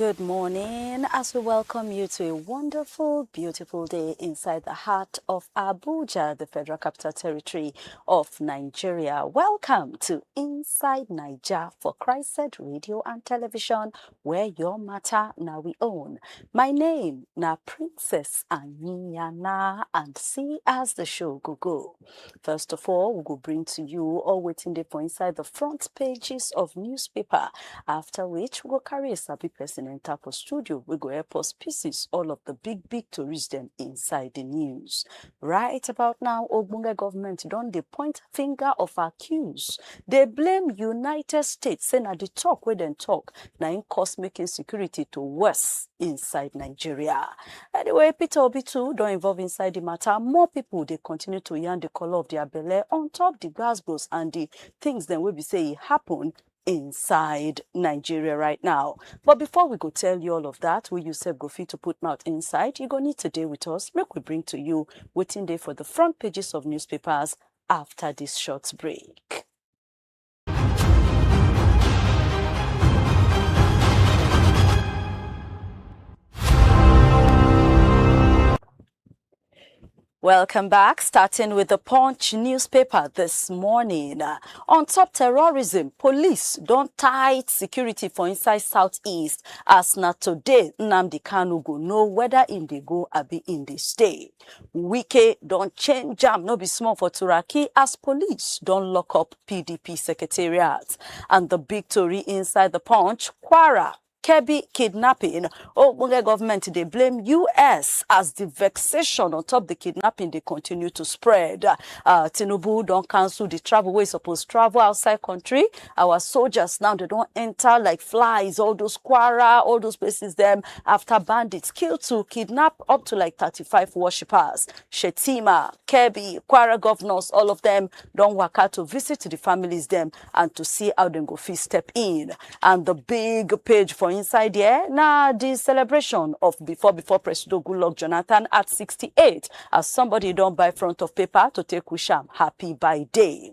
Good morning, as we welcome you to a wonderful, beautiful day inside the heart of Abuja, the Federal Capital Territory of Nigeria. Welcome to Inside Naija for Christ Radio and Television, where your matter now we own. My name na Princess Anyana, and see as the show go go. First of all, we go bring to you all waiting there for inside the front pages of newspaper. After which, we go carry a sabi person and tap for studio. We go help us pieces all of the big, big tourists them inside the news. Right about now, Ogbonge government don dey point finger of accuse. They blame United States, say na the talk where them talk. na im cause make insecurity to worse inside Nigeria. Anyway, Peter Obi too don involve inside the matter. More people dey continue to yarn the color of their belle on top the gbasgbos and the things dem wey be say e happen inside Nigeria right now. But before we go tell you all of that, we yourself go fit to put mouth inside, you go need to dey with us. Make we bring to you waiting day for the front pages of newspapers after this short break. Welcome back. Starting with the Punch newspaper this morning. Uh, on top terrorism, police don tight security for inside southeast as na today Nnamdi Kanu go know whether im dey go abi im dey stay. Wike don change jam no be small for Turaki as police don lock up PDP secretariat. And the big tori inside the punch, Kwara Kebbi kidnapping. Ogbonge government dey blame US as the vexation on top the kidnapping dey continue to spread. Uh, Tinubu don cancel the travel wey suppose travel outside country our soldiers now dem don enter like flies all those kwara all those places dem after bandits kill to kidnap up to like 35 worshippers shetima kebbi kwara governors all of them don waka to visit the families dem and to see how dem go fit step in and the big page for inside there na the celebration of before before presido goodluck jonathan at 68 as somebody don buy front of paper to take wish am happy birthday.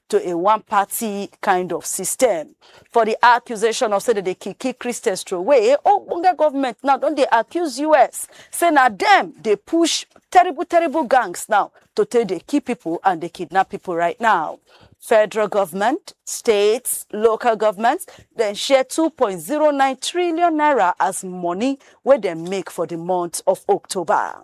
to a one party kind of system. For the accusation of say they dey kick kick Christians throwaway, Ogbonge government now don dey accuse US say na them dey push terrible terrible gangs now to take dey kill people and dey kidnap people right now. Federal government, states, local governments dem share 2.09 trillion naira as money wey dem make for the month of October.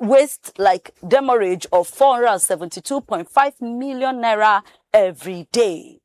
waste like demurrage of 472.5 million naira every day.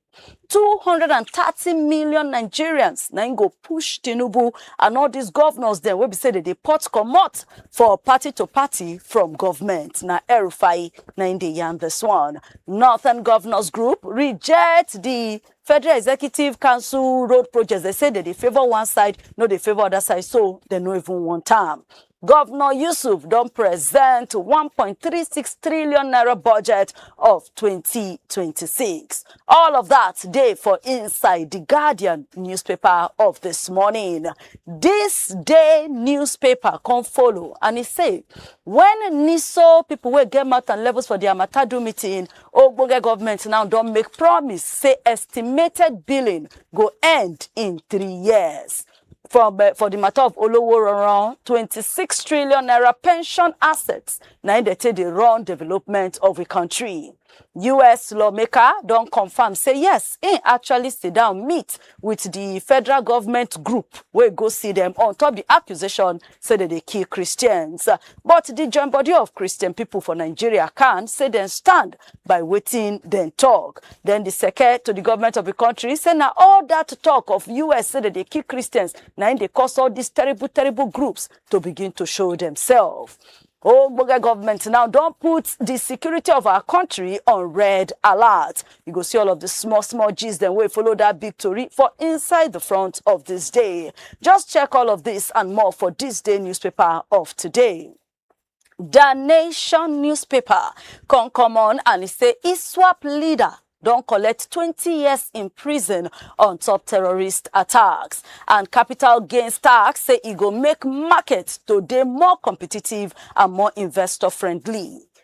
230 million nigerians na im go push tinubu and all these governors dem wey be say dem dey pot comot for party to party from government na erufai na im dey yarn this one northern governors group reject the federal executive council road projects dem say dem dey favour one side no dey favour other side so dem no even want am Governor Yusuf don present 1.36 trillion naira budget of 2026. All of that day for inside the Guardian newspaper of this morning. This day newspaper come follow and it say when NISO people will get math and levels for their Matadu meeting, Ogbonge government now don't make promise say estimated billing go end in three years. for eh, for the matter of olowo ronron twenty six trillion naira pension assets na im dey take dey run development of the country. us lawmaker don confirm say yes im actually sit down meet with the federal government group wey go see dem on top the accusation say dem dey kill christians but the join body of christian people for nigeria can say dem stand by wetin dem talk. Then the seke to the government of the country say na all that talk of US say dem dey kill Christians na im dey cause all these terrible terrible groups to begin to show themselves. Ogbonge government now don put the security of our country on red alert. You go see all of the small small gist dem wey follow that big tori for inside the front of this day. Just check all of this and more for this day newspaper of today. The Nation newspaper come come on and e say ISWAP leader don collect 20 years in prison on top terrorist attacks and capital gains tax say e go make market to dey more competitive and more investor friendly.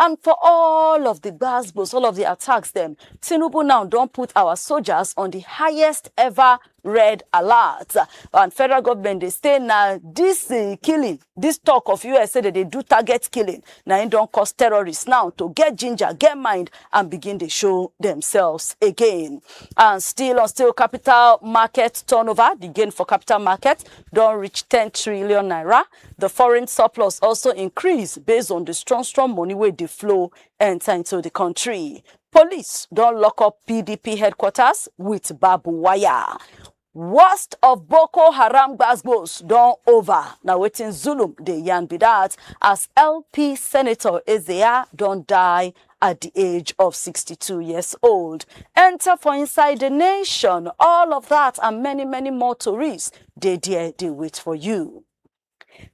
and for all of di gbas gbos all of di attacks dem tinubu now don put our soldiers on di highest ever red alert and federal government dey say na dis eh, killing dis talk of us say dem dey do target killing na im don cause terrorists now to get ginger get mind and begin dey show themselves again and still on still capital market turnover the gain for capital market don reach ten trillion naira The foreign surplus also increase based on the strong strong money wey dey flow enter into the country. Police don lock up PDP headquarters with barbed wire. Worst of Boko Haram gbasgbos don over. Na wetin Zulum dey yarn be that as LP Senator Ezea don die at di age of 62 years old enta for inside di nation all of dat and many many more tories dey there dey wait for you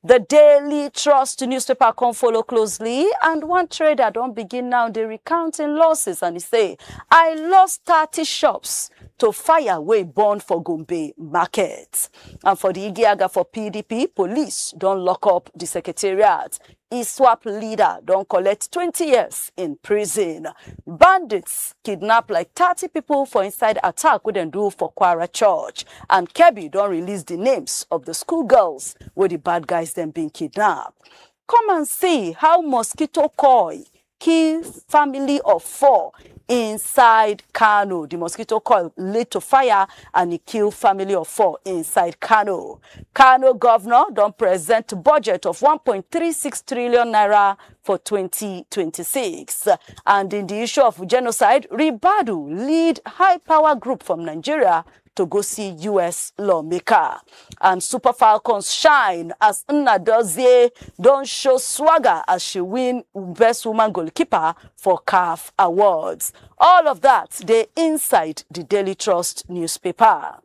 The Daily Trust newspaper come follow closely, and one trader don begin now dey recount im losses and e say, I lost 30 shops to fire wey burn for Gombe market. And for the Igiaga for PDP, police don lock up the secretariat. Iswap leader don collect twenty years in prison. Bandits kidnap like thirty people for inside attack wey dem do for Kwara church and Kebbi don release the names of the school girls wey the bad guys dem bin kidnap. Come and see how mosquito coil kill family of four inside Kano. The mosquito coil led to fire and e kill family of four inside Kano. Kano governor don present budget of 1.36 trillion naira for 2026. And in the issue of genocide, Ribadu lead high power group from Nigeria to go see us lawmaker and super falcons shine as nnadozie don show swagger as she win best woman goalkeeper for caf awards all of that dey inside the daily trust newspaper.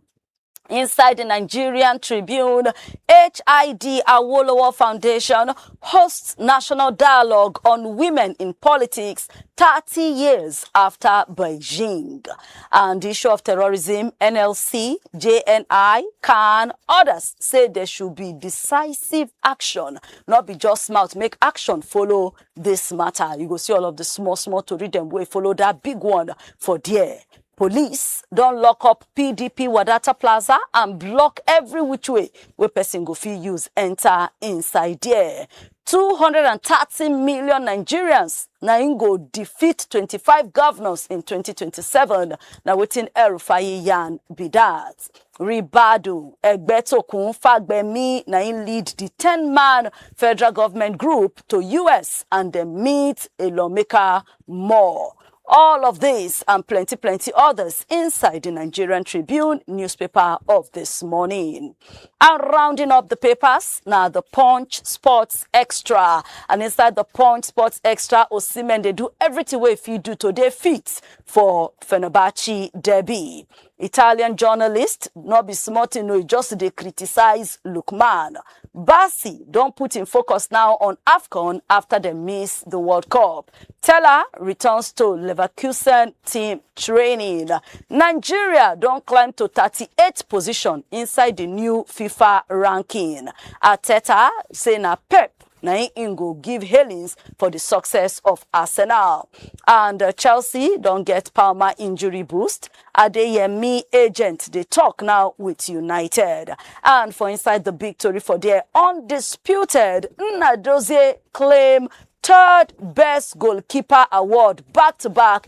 Inside the Nigerian Tribune, HID Awolowo Foundation hosts national dialogue on women in politics 30 years after Beijing. and di issue of terrorism nlc jni can odas say there should be decisive action not be just mouth make action follow dis matter you go see all of di small small tori dem wey follow dat big one for there police don lock up pdp wadata plaza and block every which way wey person go fit use enter inside there 230 million nigerians na im go defeat 25 governors in 2027 na wetin el-rufai yarn be dat ribadu egbetokun fagbemi na im lead di 10 man federal government group to us and dem meet a lawmaker more All of this and plenty, plenty others inside the Nigerian Tribune newspaper of this morning. And rounding up the papers, now the Punch Sports Extra. And inside the Punch Sports Extra, Osimen, they do everything way if you do today fit for Fenerbahce Derby. Italian journalist, no be small thing, no, he just dey criticize Lookman. Bassi don put im focus now on AFCON after dem miss the World Cup. Teller returns to Leverkusen team training. Nigeria don climb to 38th position inside the new FIFA ranking. Arteta say na Pep na im im go give hailings for di success of arsenal and chelsea don get palmer injury boost adeyemi agent dey tok now wit united and for inside di big tori for there undisputed nnadozie claim third best goalkeeper award back to back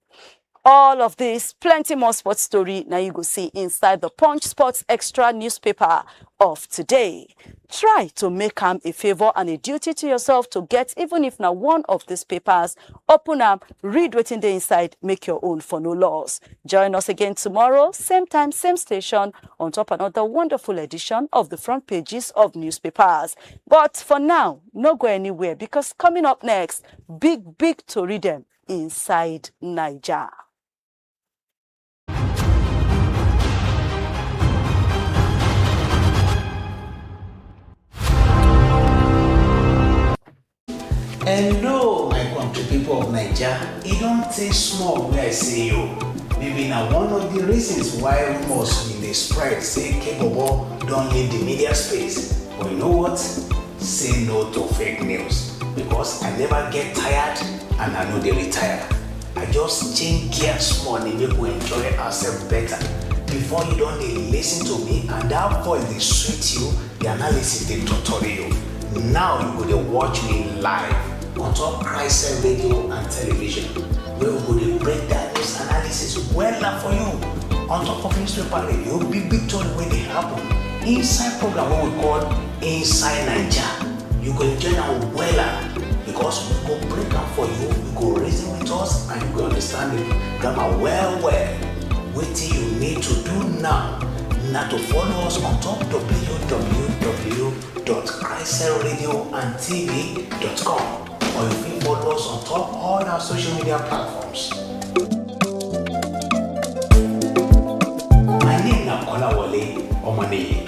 All of this, plenty more sports story now you go see inside the Punch Sports Extra newspaper of today. Try to make am a favor and a duty to yourself to get even if na one of these papers. Open am, read wetin dey inside, make your own for no loss. Join us again tomorrow, same time, same station, on top another wonderful edition of the front pages of newspapers. But for now, no go anywhere because coming up next, big, big tori dem inside Naija. Hello, my country people of Naija. E don tey small wey I see you. Maybe na one of the reasons why rumors bin dey spread say Kebobo don leave the media space. But you know what? Say no to fake news because I never get tired and I no dey retire. I just change gear small dey make we enjoy ourselves better. Before you don dey lis ten to me and that voice dey sweet you, the analysis dey torture you. Now you go dey watch me live on top Christ radio and television wey we go dey break down news analysis wella for you on top of newspaper radio, big big tori wey dey happen inside program wey we call Inside Naija, you go enjoy am wella because we go break am for you, you go reason with us and you go understand the grammar well well. Wetin you need to do now na to follow us on top www.christcellradioandtv.com or you fit follow us on top all our social media platforms. My name na Kolawole Omoniyi.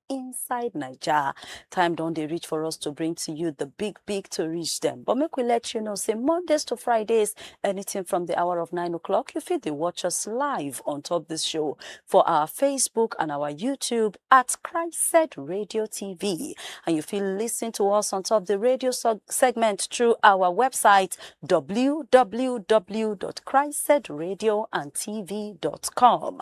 inside naija time don dey reach for us to bring to you the big big to reach them but make we let you know say mondays to fridays anything from the hour of nine o'clock you fit dey watch us live on top this show for our facebook and our youtube at christ radio tv and you fit listen to us on top the radio seg- segment through our website www.christsedradio and tv.com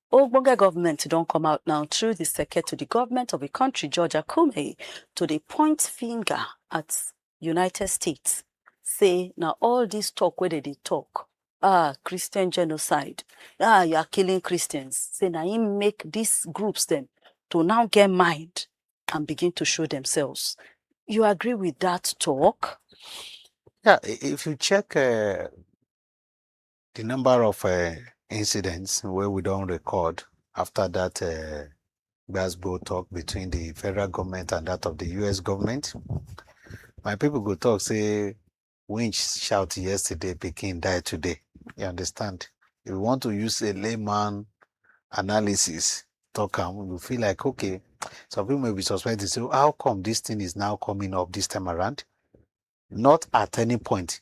Ogbonge government don come out now through di seke to di government of di kontri George Akume to dey point finger at United States say na all dis tok wey dem dey tok ah Christian genocide ah you are killing Christians say na im make dis groups dem to now get mind and begin to show demselves. You agree wit dat tok? Yeah, if you check Di number of incidents wey we don record afta dat gbasgbo tok between di federal goment and dat of di us goment, my pipo go tok say winch shout yesterday, pikin die today. You understand? If you want to use a layman analysis tok am, you go feel like okay, some pipo may be suspecting say how come dis tin is now coming up dis time around? Not at any point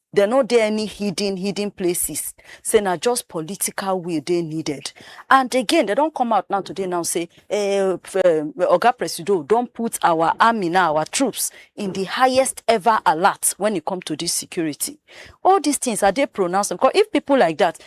There no dey any hidden hidden places say na just political will dey needed and again dem don come out now today now say um Oga Presido don put our army now our troops in the highest ever alert when it come to this security all these things are dey pronounced because if people like that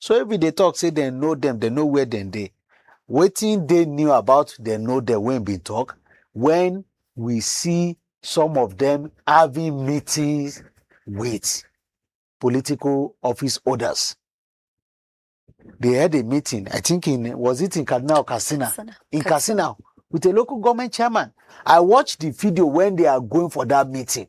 So if we dey talk say dem know dem, dem know where dem dey, wetin dey new about dem know dem wey im bin talk when we see some of dem having meetings with political office holders. They had a meeting, I think in was it in Kaduna or Katsina? Katsina. In Katsina with a local government chairman. I watched the video when they are going for that meeting.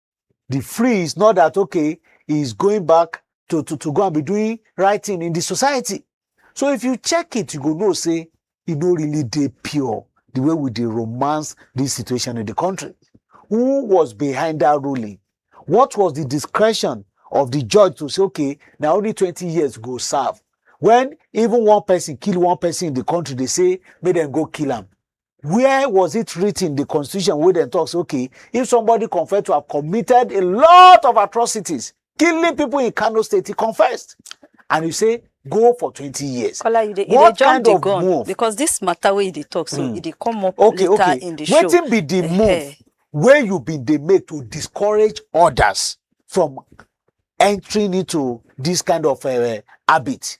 the free is not that okay he is going back to to to go and be doing right thing in the society so if you check it you go know say e no really dey pure the way we dey romance this situation in the country who was behind that ruling what was the discretion of the judge to say okay na only twenty years go serve when even one person kill one person in the country dey say make dem go kill am where was it written the constitution where they talks okay if somebody confessed to have committed a lot of atrocities killing people in kano state he confessed and you say go for 20 years Kola, you dey, you what dey jump kind the of gun move because this matter wey you dey talk so Mm. e dey come up okay later okay in the show wetin be the Eh, move eh. wey you bin dey make to discourage others from entering into this kind of uh, habit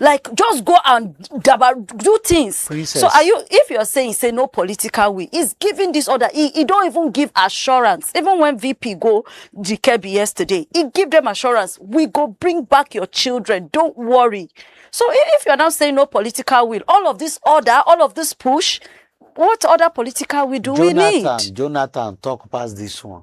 like just go and dabar do things Princess. so are you if you're saying say no political will he's giving this order he, he don't even give assurance even when vp go dikebi yesterday he give them assurance we go bring back your children don't worry so if you're now saying no political will all of this order all of this push what other political will do jonathan, we need jonathan talk past this one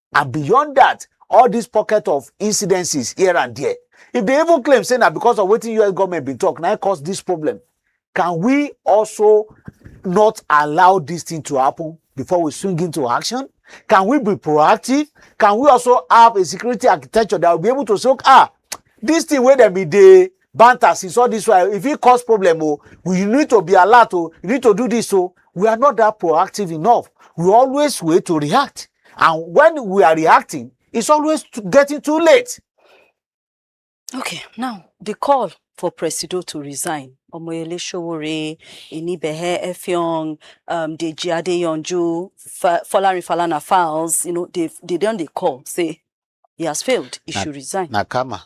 and beyond that all this pocket of incidences here and there if they even claim say na because of wetin us government bin talk na cause this problem can we also not allow this thing to happen before we swing into action can we be proactive can we also have a security architecture that will be able to say ah this thing wey dem bin dey banter since all this while e fit cause problem o we you need to be alert o you need to do this o we are not that proactive enough we always wait to react and when we are reacting it's always to getting too late. okay now the call for presido to resign Omoyele Sowore, Inibehe Effiong, um, Deji Adeyanju, Folarin Falana Files, you know, they they don't they call say he has failed, he na, should resign. Nakama.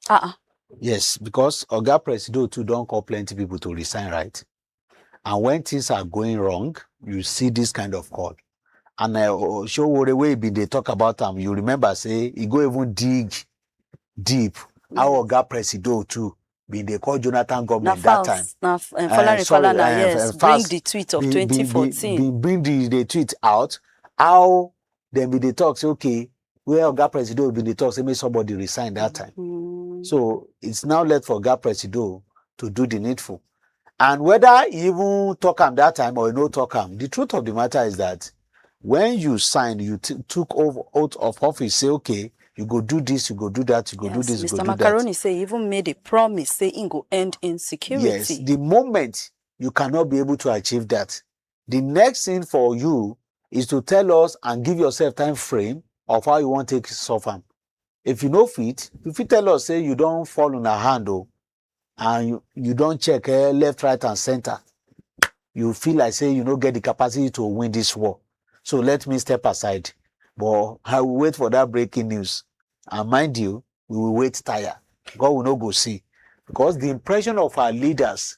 Ah, ah. Yes, because Oga Presido too don call plenty people to resign, right? And when things are going wrong, you see this kind of call. And uh, Showore wey bin dey talk about am, you remember say he go even dig deep how Oga Presido too bin dey call Jonathan na government that time. false na f- um, Eh, Falana sorry, Falana eh, yes eh, bring false. the tweet of bin- bin- bin- 2014 bin bring the the tweet out how dem bin dey talk say okay where Oga Presido bin dey talk say make somebody resign that time. Mm. So it's now left for Oga Presido to do the needful. And whether he even talk am that time or he no talk am, the truth of the matter is that when you sign, you t- took over out of office, say, okay, you go do this, you go do that, you go do Yes, this, you Mr. go do that. Macaroni say he even made a promise say he go end insecurity. Yes, the moment you cannot be able to achieve that, The next thing for you is to tell us and give yourself time frame of how you wan take solve am. If you no fit, you fit tell us say you don fall on her hand o and you, you don check eh, left, right and center. You feel like say you no get the capacity to win this war. So let me step aside. But I will wait for that breaking news. And mind you, we will wait tire. God will not go see. Because the impression of our leaders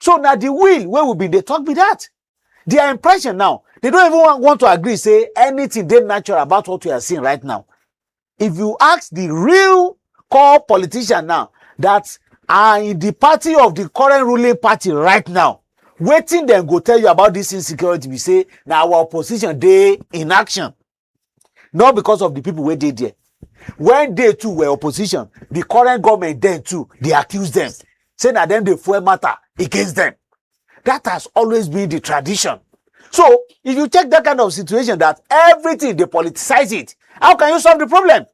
so na the will wey we bin dey talk be that their impression now they don't even want, want to agree say anything dey natural about what we are seeing right now if you ask the real core politician now that are in the party of the current ruling party right now wetin dem go tell you about this insecurity be say na our opposition dey in action not because of the people wey dey there when they too were opposition the current government then too dey accuse them say na them dey fuel matter against them that has always been the tradition so if you take that kind of situation that everything dey politicize it how can you solve the problem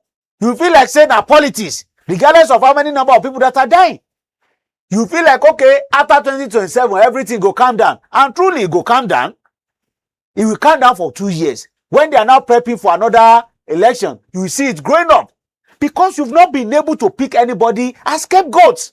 you feel like say na politics regardless of how many number of people that are dying you feel like okay after 2027 everything go calm down and truly e go calm down e will calm down for two years when they are now prepping for another election you will see it growing up because you've not been able to pick anybody as scapegoats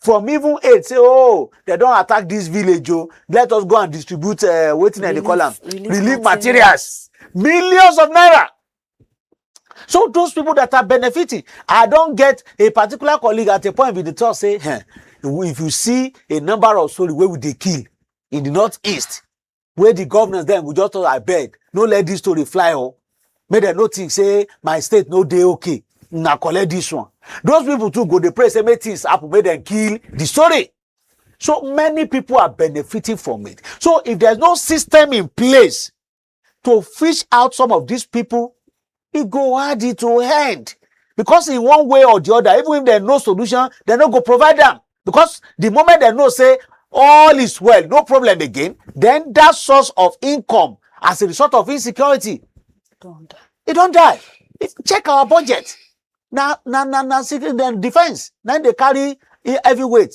from even aid say oh dem don attack this village o let us go and distribute uh, wetin dem dey call am Relief- relief relief materials millions of naira so those people that are benefiting i don get a particular colleague at a point bin dey talk say eh, if you see a number of story wey we dey kill in the north east wey the governors dem go just talk abeg no let this story fly o oh. make dem no think say my state no dey okay una collect this one those people too go dey pray say make things happen make dem kill the story so many people are benefiting from it so if there's no system in place to fish out some of these people e go add it to head because in one way or the other even if dem know solution dem no go provide am because the moment dem know say all is well no problem again then that source of income as a result of insecurity Don't die. e don die If- check our budget na na na na secret dem defence na im dey carry e- heavy weight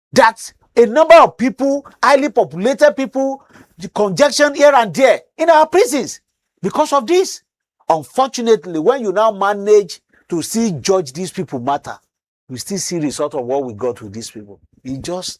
that a number of people, highly populated people, the congestion here and there in our prisons because of this. Unfortunately, when you now manage to see judge these people matter, we still see result of what we got with these people. It just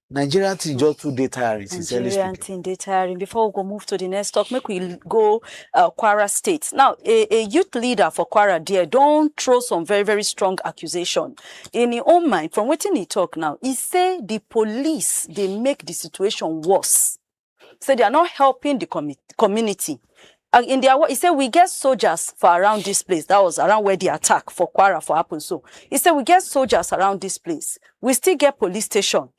Nigerian thing just too dey tiring. sincerely Nigerian speaking. thing dey tiring. Before we go move to the next talk, make we go uh, Kwara State. Now, a, a youth leader for Kwara there don throw some very very strong accusation in im own mind from wetin e tok now, e say di police dey make di situation worse, say dia not helping di comi community and in dia word e say we get soldiers for around dis place dat was around where di attack for kwara for happen so, e say we get soldiers around dis place, we still get police station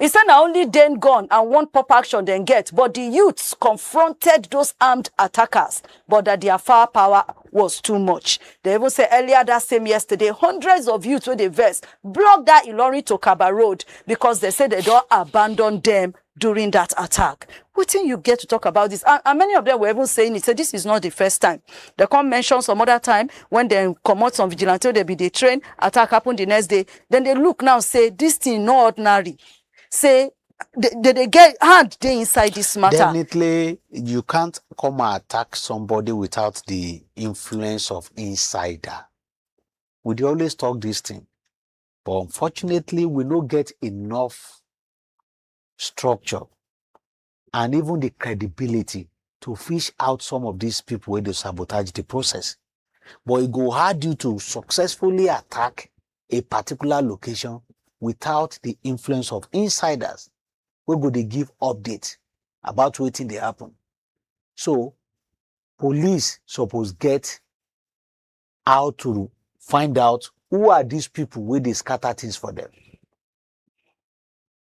He say na only den gun and one pop action dem get, but di youths confronted those armed attackers, but dat dia firepower was too much. Dem even say earlier dat same yesterday, hundreds of youths wey dey vex block dat Ilorin to Kabba road because dem say dem don abandon dem during dat attack. Wetin you get to talk about dis? And and many of dem were even saying it say dis is not di first time. Dem come mention some other time wen dem comot some vigilante wey dem bin dey train, attack happen di next day, dem dey look now say this thing no ordinary say they dey get hand dey inside this matter. definitely you can't come and attack somebody without the influence of insider we dey always talk this thing but unfortunately we no get enough structure and even the credibility to fish out some of these people wey dey sabotage the process. But e go hard you to successfully attack a particular location without the influence of insiders wey go dey give update about wetin dey happen. So police suppose get how to find out who are these people wey dey scatter things for them.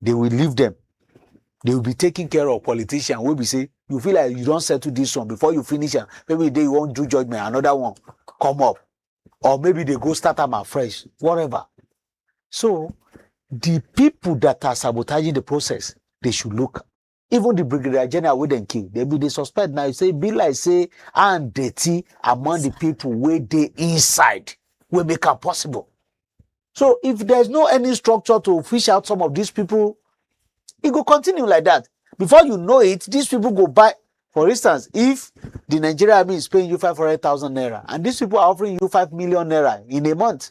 they will leave them they will be taking care of politician wey be say you feel like you don settle this one before you finish am maybe the day you wan do judgement another one come up or maybe they go start am afresh whatever so the people that are sabotaging the process they should look even the brigadier general wey dem kill dem bin dey suspect na say e be like say hand dirty among the people wey dey inside wey make am possible so if there is no any structure to fish out some of these people e go continue like that before you know it these people go buy for instance if the nigerian army is paying you five hundred thousand naira and these people are offering you five million naira in a month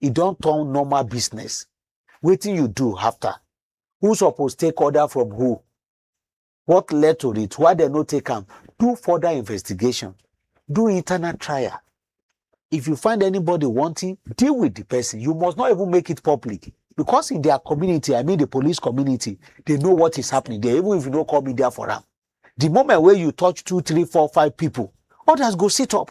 e don turn normal business wetin you do after who suppose take order from who what led to it why dem no take am do further investigation do internal trial if you find anybody wanting deal with the person you must not even make it public because in their community i mean the police community they know what is happening there even if you no call media for am the moment wey you touch two three four five people others go sit up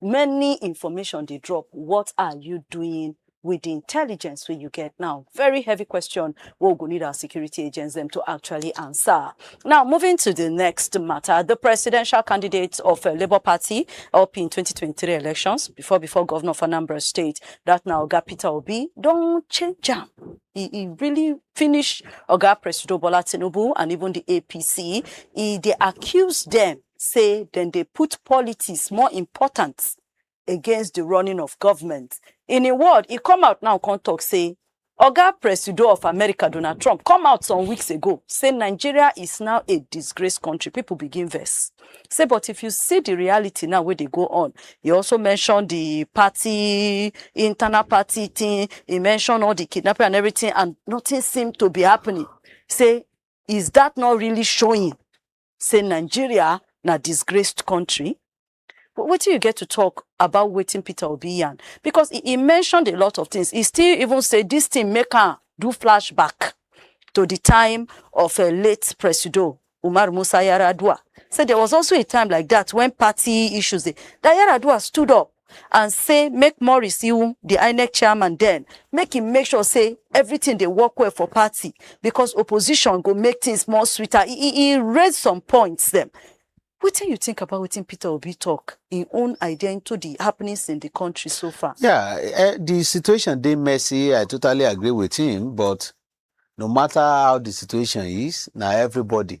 many information dey drop what are you doing with the intelligence wey you get now very heavy question wey we go need our security agents them to actually answer now moving to the next matter the presidential candidate of uh, labour party up in 2023 elections before before governor of anambra state that now oga peter obi don change am he, he really finish oga presido bola tinubu and even the apc he dey accuse them say dem dey put politics more important against di running of goment. In im word, e come out now come tok say Oga Presido of America, Donald Trump, come out some weeks ago say Nigeria is now a disgraced kontri. Pipo begin vex say but if you see di reality now wey dey go on, e also mention di party, internal party tin, e mention all di kidnapping and everytin and notin seem to be happening, say is dat not really showing say Nigeria na disgraced country. Wh- Wetin you get to talk about wetin Peter Obi yarn? Because he, he mentioned a lot of things. He still even say this thing make am do flashback to the time of a late Presido Umar Musa Yaradua. Said there was also a time like that when party issues, dey- that Yaradua stood up and say make Morris Iwu, the INEC chairman then, make him make sure say everything dey work well for party because opposition go make things more sweeter. He, he, he raise some points them. Wetin you think about wetin Peter Obi talk, him own idea into the happenings in the country so far? Yeah, eh, the situation dey messy. I totally agree with him, but no matter how the situation is, na everybody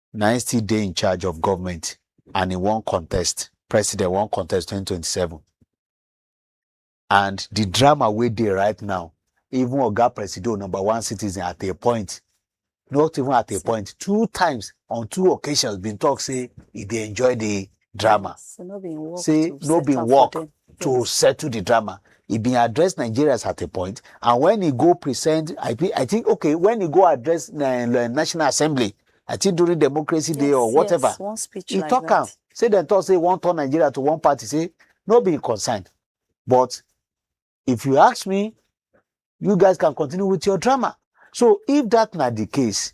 na im still dey in charge of government and he wan contest president wan contest 2027 and the drama wey dey right now even oga presido number one citizen at a point not even at a point two times on two occasions bin talk say he dey enjoy the drama So no be im work say to no be settle for work them. to Yes. settle the drama. He been address Nigerians at a point, and when he go present, I think, I think okay, when he go address uh, uh, National Assembly, I think during Democracy Day or Yes, whatever, yes, one speech he like talk am. that. Say dem talk say one turn Nigeria to one party. Say no be concerned, but if you ask me, you guys can continue with your drama. So if that na the case,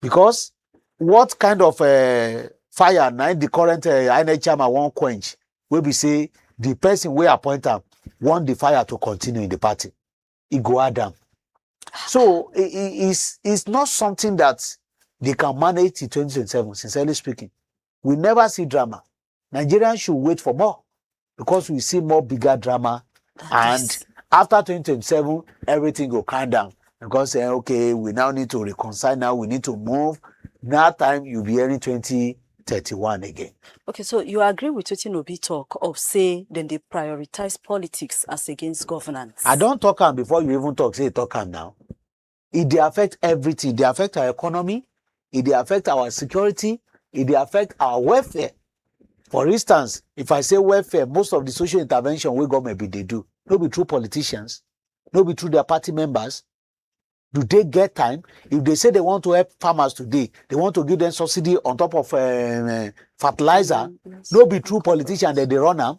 because what kind of uh, fire na the current uh, inec chairman wan quench wey be say the person wey appoint am want the fire to continue in the party e go add am so it, it, it's, it's not something that they can manage in 2027 sincerely speaking we never see drama Nigerians should wait for more because we see more bigger drama and this. after 2027 everything go calm down because eh, okay we now need to reconcile now we need to move now time you be hearing 20 31 again. Okay, so you agree with wetin Obi talk of say then they prioritize politics as against governance? I don't talk am before you even talk, say talk am now. e dey affect everything e dey affect our economy e dey affect our security e dey affect our welfare for instance if i say welfare most of the social intervention wey government bin dey do no be through politicians no be through their party members do they get time if they say they want to help farmers today they want to give them subsidy on top of uh, uh, fertilizer no be through politician dem dey run am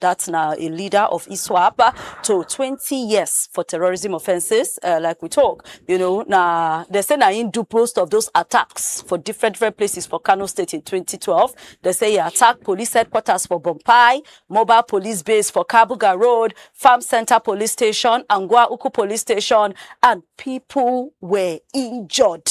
dat na a leader of iswap to twenty years for terrorism offences like we tok you know na dem say na im do most of those attacks for different different places for kano state in twenty twelve dem say e attack police headquarters for bompai mobile police base for kabuga road farm centre police station anguwa uku police station and pipo were injured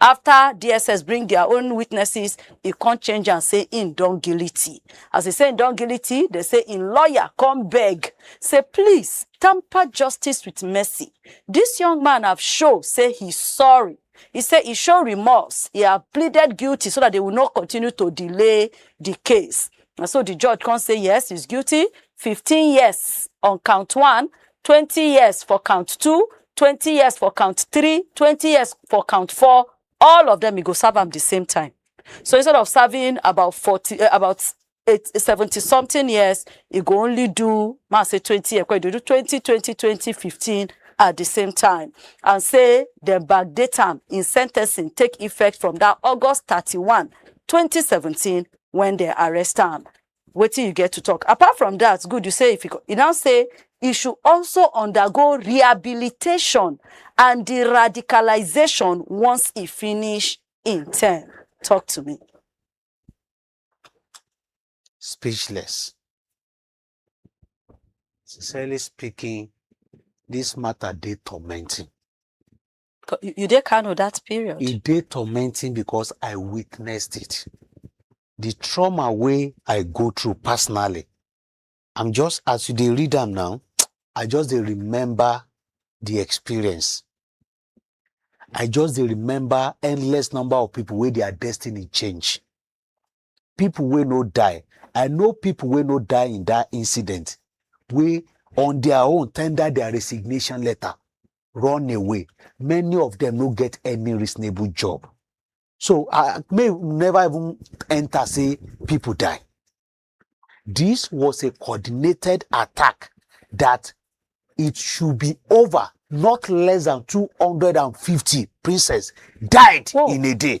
After DSS bring their own witnesses, e come change am say im don guilty. As e say im don guilty, dey say im lawyer come beg say please tamper justice with mercy. Dis young man have show say he sorry. He say he show remorse, he have pleaded guilty so that they will not continue to delay the case. Na so the judge come say yes, he's guilty, 15 years on count one, twenty years for count two twenty years for count three twenty years for count four all of them e go serve am the same time so instead of serving about forty uh, about eight, seventy something years e go only do ma say twenty years e go do twenty twenty twenty fifteen at the same time and say dem backdate am in sentencing take effect from that august thirty-one twenty seventeen when dem arrest am wetin you get to talk apart from that good you say if you go, you now say e should also undergo rehabilitation and de-radicalization once e finish im term talk to me. speechless. Sincerely speaking, this matter dey tormenting. Co- You you dey Kano that period. e dey tormenting because i witnessed it the trauma wey i go through personally i'm just as you dey read am now i just dey remember the experience i just dey remember endless number of people wey their destiny change people wey no die i know people wey no die in that incident wey on their own tender their resignation letter run away many of them no get any reasonable job so i may never even enter say people die this was a coordinated attack that it should be over not less than 250 princess died Whoa. in a day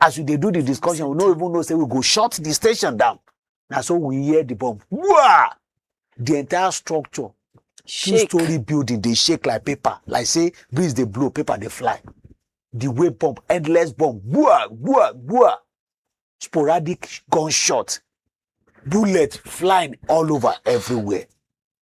as we dey do the discussion we no even know say we go shut the station down na so we hear the bomb Wah! the entire structure two shake story building dey shake like paper like say breeze dey blow paper dey fly the way bomb endless bomb gbua gbua gbua sporadic gunshot bullet flying all over everywhere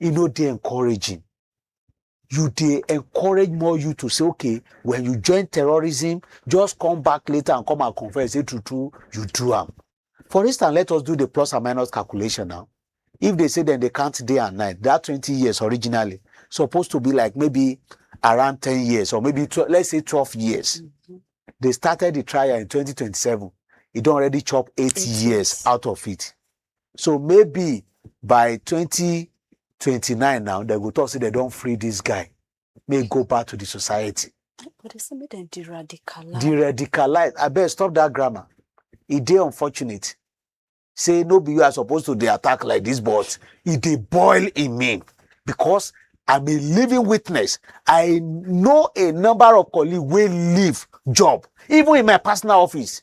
e no dey encouraging you dey encourage more you to say okay when you join terrorism just come back later and come and confess say true true you do am for instance let us do the plus and minus calculation now if they say then they count day and night that 20 years originally supposed to be like maybe around 10 years or maybe 12, let's say 12 years mm-hmm. they started the trial in 2027 it don't already chop eight, eight years, years out of it so maybe by 2029 now they go talk say they don't free this guy may go back to the society But they say make dem de-radicalize. the radicalize I abeg stop that grammar It dey unfortunate say no be you are supposed to the attack like this but it dey boil in me because i'm a living witness i know a number of colleagues will leave job even in my personal office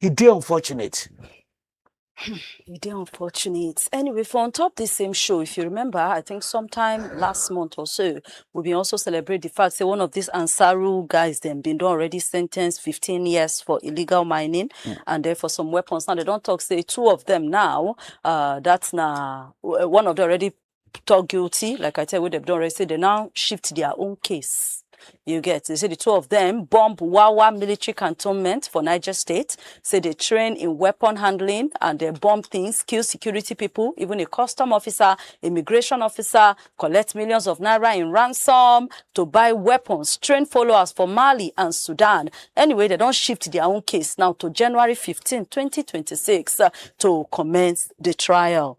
e dey unfortunate. e dey unfortunate. Anyway, for on top this same show, if you remember, I think sometime last month or so, we been also celebrate the fact say one of these Ansaru guys them been done already sentenced 15 years for illegal mining mm. and then for some weapons. Now they don't talk say two of them now, uh, that's now uh, one of them already talk guilty, like I tell you, wey dem don arrest, say dem now shift their own case. You get? They say the two of them bomb Wawa military cantonment for Niger State, say they train in weapon handling and they bomb things, kill security people, even a custom officer, immigration officer, collect millions of naira in ransom to buy weapons, train followers for Mali and Sudan. Anyway, they don't shift their own case now to January 15, 2026 uh, to commence the trial.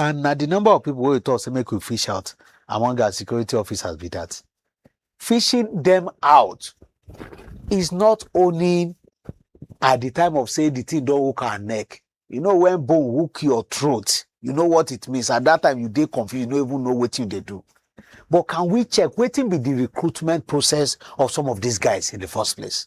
and na the number of people wey we talk say make we fish out among our security officers be that fishing them out is not only at the time of say the thing don hook our neck you know when bone hook your throat you know what it means at that time you dey confused you no even know wetin you dey do but can we check wetin be the recruitment process of some of these guys in the first place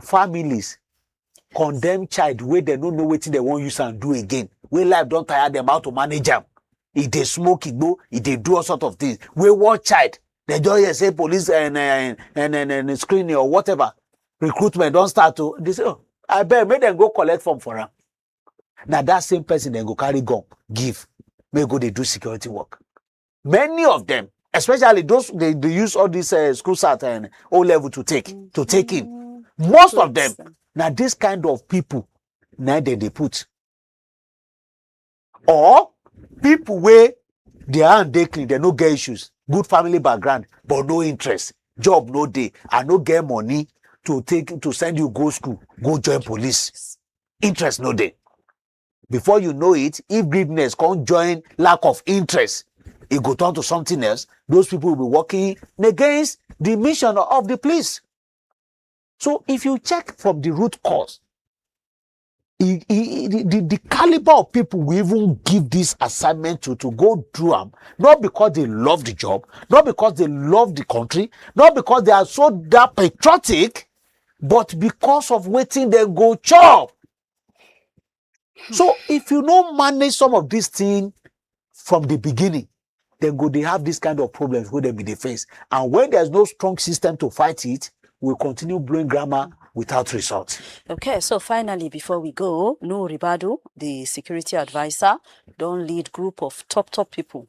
families condemn child wey dem no know wetin dem wan use am do again wey life don tire dem how to manage am e dey smoke igbo e dey do all sort of things wey one child dem just hear say police and, and, and, and, and screening or whatever recruitment don start to they say oh abeg make dem go collect form for am na that same person dem go carry gun give make go dey do security work many of them especially those they, they use all this uh, school sat and o level to take to take in Mm, most to of them understand. na this kind of people na dem dey put or people wey their hand dey clean dem no get issues good family background but no interest job no dey i no get money to take to send you go school go join police interest no dey before you know it if greediness come join lack of interest e go turn to something else those people will be working against the mission of the police so if you check from the root cause e, e, e, the, the, the caliber of people we even give this assignment to to go through them not because they love the job not because they love the country not because they are so that patriotic but because of waiting they go chop so if you no manage some of this thing from the beginning then go they have this kind of problems wey dem be dey face and when there's no strong system to fight it we continue blowing grammar without result. Okay, so finally, before we go, Noor Ribadu, the security advisor, don't lead group of top top people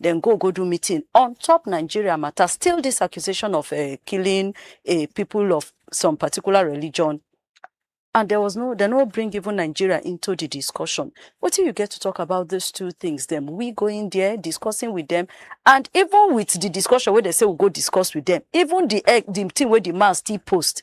Dem go go do meeting on top Nigeria matter, still this accusation of um killing a people of some particular religion and there was no, dem no bring even Nigeria into the discussion. Wetin you get to talk about these two things dem? We going there, discussing with them and even with the discussion wey dem say we go discuss with them, even the um the thing wey the man still post,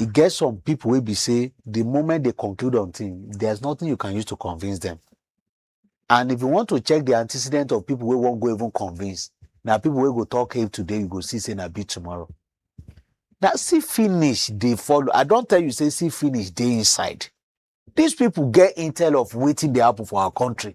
e get some people wey be say the moment they conclude on thing there's nothing you can use to convince them and if you want to check the antecedent of people wey wan go even convince na people wey go talk hate today you go see say na beat tomorrow na see finish dey follow i don tell you say see finish dey inside these people get intel of wetin dey happen for our country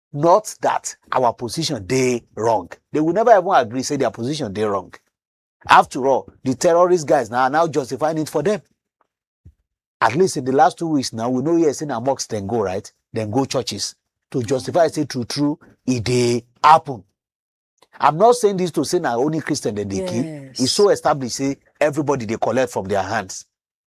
not that our position dey wrong they will never even agree say their position dey wrong after all the terrorist guys na now justifying it for them at least in the last two weeks now we no hear say na mosque dem go right dem go churches to justify say true true e dey happen i'm not saying this to say na only christian dem dey kill e Yes. so established say everybody dey collect from their hands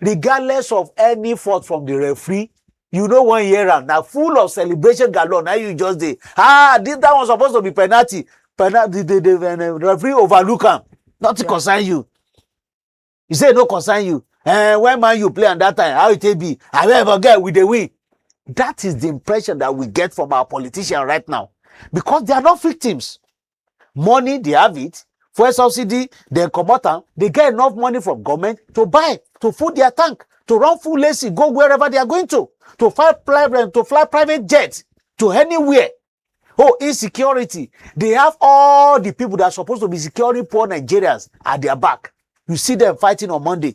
regardless of any fault from the referee you no wan hear am na full of celebration galore na you just dey ah this that one suppose to be penalty penalty the the the referee overlook am nothing yeah. concern you you say e no concern you eh when man you play am that time how e take be abeg forget we dey win that is the impression that we get from our politician right now because they are not victims money they have it fuel subsidy dem comot am they get enough money from government to buy to full their tank to run full ac go wherever they are going to to fly private to fly private jet to anywhere oh insecurity they have all the people that are supposed to be securing poor nigerians at their back you see them fighting on monday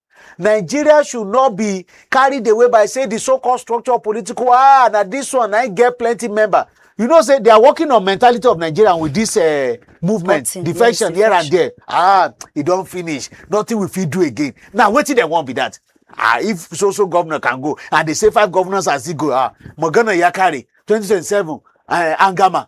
Nigeria should not be carried away by say the so-called structure political ah na this one I get plenty member. You know say they are working on mentality of Nigeria with this uh, movement, Cutting, defection yes, here and there. Ah, e don finish. Nothing we fit do again. Now wetin dem wan be that? Ah, if so so governor can go and they say five governors as he go ah, Morgana Yakari, 2027, uh, eh, Angama,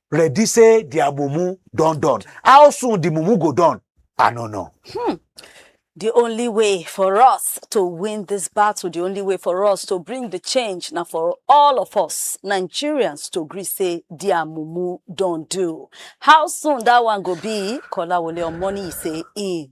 ready say their mumu don done how soon the mumu go done i no know. Hmm. The only way for us to win this battle, the only way for us to bring the change, now for all of us Nigerians to agree say dear mumu don't do. How soon that one go be? Kola Wole Omoni say in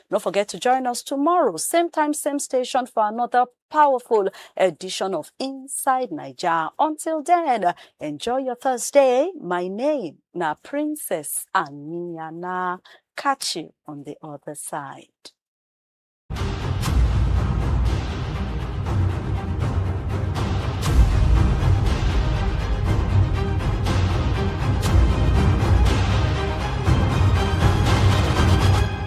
No forget to join us tomorrow, same time, same station for another powerful edition of Inside Naija. Until then, enjoy your Thursday. My name na Princess Aniana. Catch you on the other side.